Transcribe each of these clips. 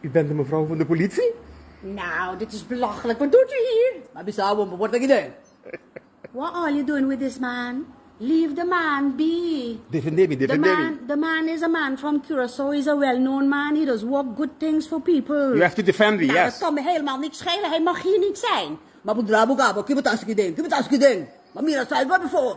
U bent di mevrouw van de politie? Nou, dit is belachelijk. Wat doet u hier? M'a bisa awor pa por taki den. What all you doing with this man? Leave the man be. Defende mi, defende mi. The man is a man from Curaçao, he's a well known man, he does work good things for people. You have to defend me, yes. Nou, dat kan me helemaal niks schelen, hij mag hier niet zijn. M'a por dra boka, por kibo ta aki den? Kibo ta aki den? M'a mira asai gor before.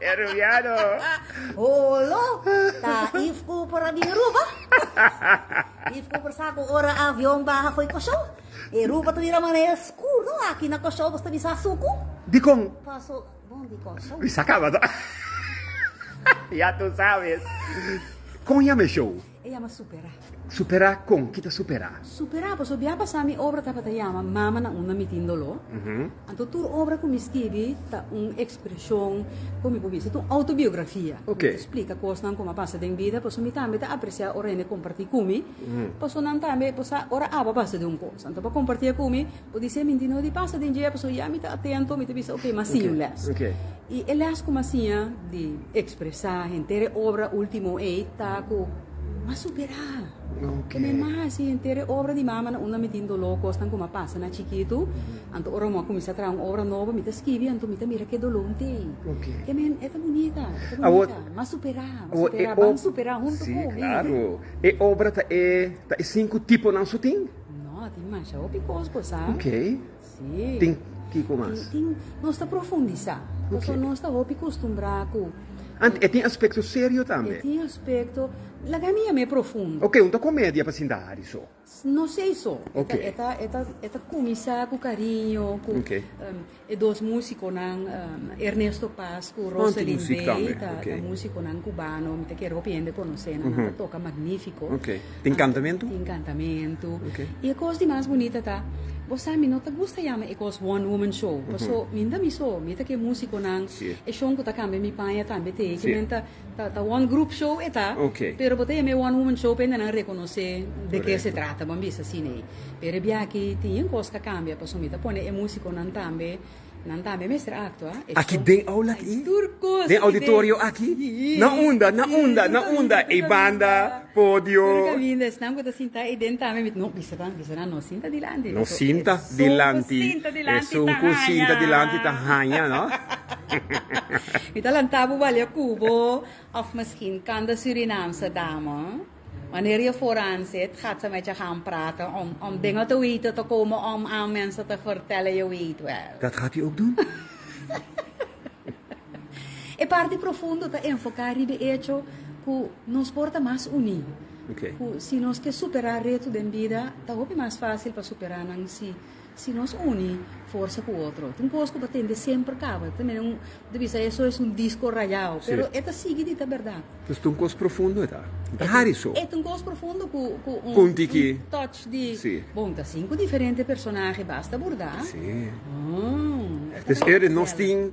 E rubiano. Holo, ta Eve Cooper a bin Ruba. Eve Cooper sa cu ora e avion baha fo'i Kòrsou, e Ruba ta bira manera skur. No, aki na Kòrsou boso ta bisa suku. Dikon? Paso bon di Kòrsou. Bisa caba ta. Ya tu sabes. Con yama e show? E yama superá. Superá kon? Ki ta superá? Superá pasobra bia pasá mi obra tabata yama Mama na unda mi tin doló. Anto tur obra ku mi skibi ta un ekspreshon, kon mi por bisa, ta un outobiografia. Mi ta splika kosnan ku mi a pasa den bida, pasobra mi tambe ta apresiá ora hende kompartí ku mi, pasobra nan tambe por sa ora aba basa di un kos, anto pa kompartié ku mi. Bo dise mi, Dino di pasa den dje, pasobra ya mi ta atento, mi ta bisa, ok, m'a siña un lès. I e lès ku m'a siña di ekspresá henter e obra último ei ta ku m'a superá. Ku mi m'a hasi henter e obra di mama na unda mi tin doló, kosnan ku m'a pasa na chikitu. Anto ora m'a kuminsá traha un obra nobo, mi ta skibi, anto mi ta mira ke doló un tei. Ke men, e ta bunita, e ta bunita. M'a superá, m'a superá, ban superá huntu ku mi. Sí, klaru. E obra ta e sinku tiponan su tin? No, tin masha hopi cos bo sa. Ok. Sí. Tin kiko mas? Tin, tin, nos ta profundisa. Okay. Paso nos ta hopi costumbrá cu... Ant, e tin aspecto serio tambe? E tin aspecto, laga mi yam'e profundo. Ok, un ta comedia pa sinta Hari so? No sei so. Ok. E ta, e ta, e ta cumisá cu cariño, cu... Ok. Um, E dos musiconan Ernesto Paz cu Roselyn Bey ta musiconan cubano mi ta kere hopi hende conoce nan. Nan ta toca magnifico. Tin cantamentu? Tin cantamentu. Y e cos di mas bunita ta bo sa mi no ta gusta yama e cos one woman show paso mi nta mi so mi ta ke musiconan. E shon cu ta cambia mi paña tambe te. Ci men ta. Ta one group show e ta, pero bo ta yama e one woman show pende nan rekonosé de ke se trata, bo a bisa asina ei. Pero e biachi tin yin kos ta kambia pasobra mi ta pone e musikonan tambe, nan tambe mester aktua. Aki den aula aki? Den auditorio aki? Na unda? Na unda? Na unda? Ei banda, podio. Tur kaminda, esnan ku ta sintá ei den tambe mi ta, no, bisa tambe. Persona no sinta dilanti. No sinta dilanti. Es un ku sinta dilanti ta haña, no? Mi ta lanta bo balia ku bo òf miskien kanda Surinamse dama. Wanneer je vooraan zit, gaat ze met je gaan praten om, om dingen te weten te komen om aan mensen te vertellen, je weet wel. Dat gaat u ook doen? E parti profundo ta enfoká riba e echo ku nos por ta mas uní. ku si nos ke superá reto den bida ta hopi mas fásil pa superá nan si si nos uni forsa ku otro. Ta un kos ku pa tende semper kaba. Ta mira un ta bisa eso es un disko rayao pero e ta sigui di ta bèrdat. Entonces ta un kos profundo e ta. E ta hari so. E ta un kos profundo ku ku un Punti ki. un touch di bon ta sinku diferente personahe basta burdá. Si. Haa. Entonces e nos tin.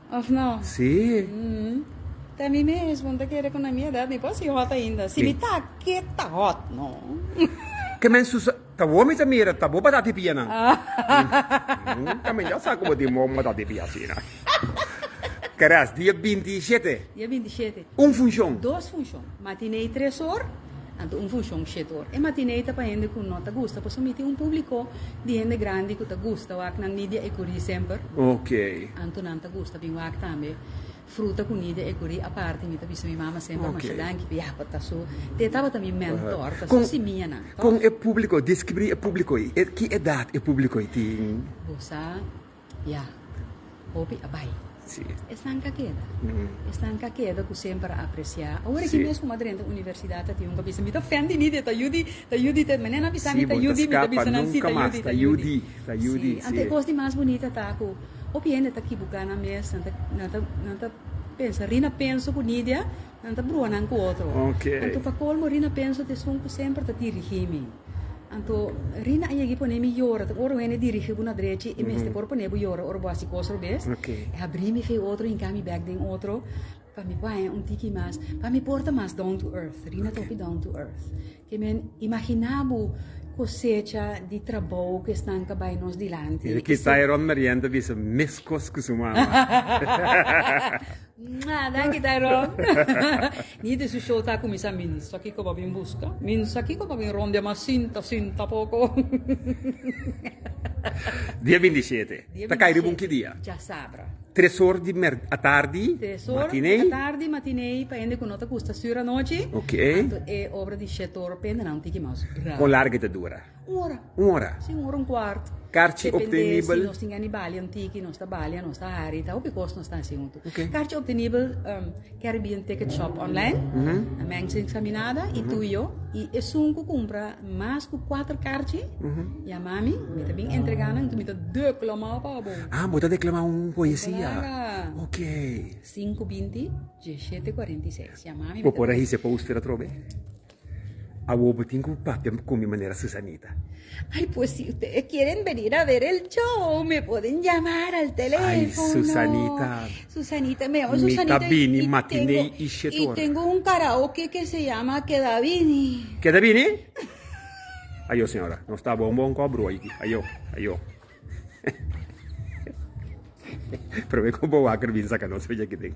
Of no? Sí. Mm. Ta mi mesmo, ta kere cu na mi edad mi por hasi hot ainda. Si mi ta aki, ta hot, no? Ke men Susa, ta bo mi ta mira, ta bo batata y pianan. Ta men ya sa cu bo tin bon batata y pia asina. Keras, dia binti y shete. Dia binti y shete. Un funcion. Dos funcion. Matinee tres or, anto un funshon shet or. E matinee ta pa hende ku no ta gusta pasobra mi tin un publiko di hende grandi ku ta gusta wak nan Nidia e Kurí semper. Anto nan ta gusta bin wak tambe Fruta ku Nidia e Kurí aparte. Mi ta bisa mi mama semper masha danki p'e yahua ta su te tabata mi mentor, ta su simianan. Kon e publiko, deskribri e publiko ei. Ki edat e publiko ei tin? Bo sa. Ya. Hopi a bai. Esnan ka keda. Esnan ka keda ku semper a apresiá. Awor aki mes ku mi a drenta universidat a tin un ku a bisa mi ta fen di mi, ta yu di, ta yu di. Mi mene no a bisa mi ta yu di, mi ta bisa nan si ta yu di, ta yu di. Si. Anto e kos di mas bunita ta ku hopi hende ta kibuká nan mes, nan ta, nan ta, nan ta pensa ri na penso ku Nidia. Nan ta brua nan ku otro. Okay. Anto pa kolmo Rina penso t'e esun ku semper ta dirigí mi. Anto Rina a yeg'i pone mi yora, ta ora wende dirigí bo na drechi e mester por pone bo yora ora bo hasi kos robes. Okay. E habrí mi fe otro, hinká mi bek den otro pa mi ku haña un tiki mas, pa mi por ta mas down to earth. Rina ta hopi down to earth. Te meen imaginá bo kosecha di trabou ku esnan ta bai nos dilanti. Yu kita e Ron Marién ta bisa meskos ku su mama. Mwah! Danki Tyrone. Ni den su show ta kuminsá Min sa kiko bo a bin buska? Min sa kiko bo a bin rondea mas sinta, sinta poko. Dia binti shete. Ta kai riba un ki dia? Djasabra. Tres or di atardi, matinei. Pa hende ku no ta gusta studio anochi. Anto e obra di Shetor Pena nan un tiki mas brau. Kon largu e ta dura? Un ora. Un ora? Si, un ora un kuart. Karchi optenibel. Depende si nos tin gana di balia un tiki, nos ta balia, nos ta hari, ta hopi kos nos ta hasi huntu. Karchi optenibel. Caribbean Ticket Shop online, a mensa examinada y tu y yo. Y esun cu cumpra mas cu cuatro carchi, yama mi, mi ta bin entrega nan, entonces mi ta declamao pa bo. Ah, bo ta declama un poesia. Claro. Ok. 520 1746. Yama mi. Bo por a hise poster atrobe? Awo bo tin ku papia bo komi manera Susanita. Ay pues si ustedes quieren venir a ver el show me pueden llamar al telefono. Ay Susanita. Susanita me llamo Susanita. Mi ta bini matinee y shit ora. Y tengo un karaoke que se llama Keda bini. Keda bini? Ayo señora nos ta bon bon kop broe aki ayo ayo. Probeer ku bo waker bin saka nos fecha aki den.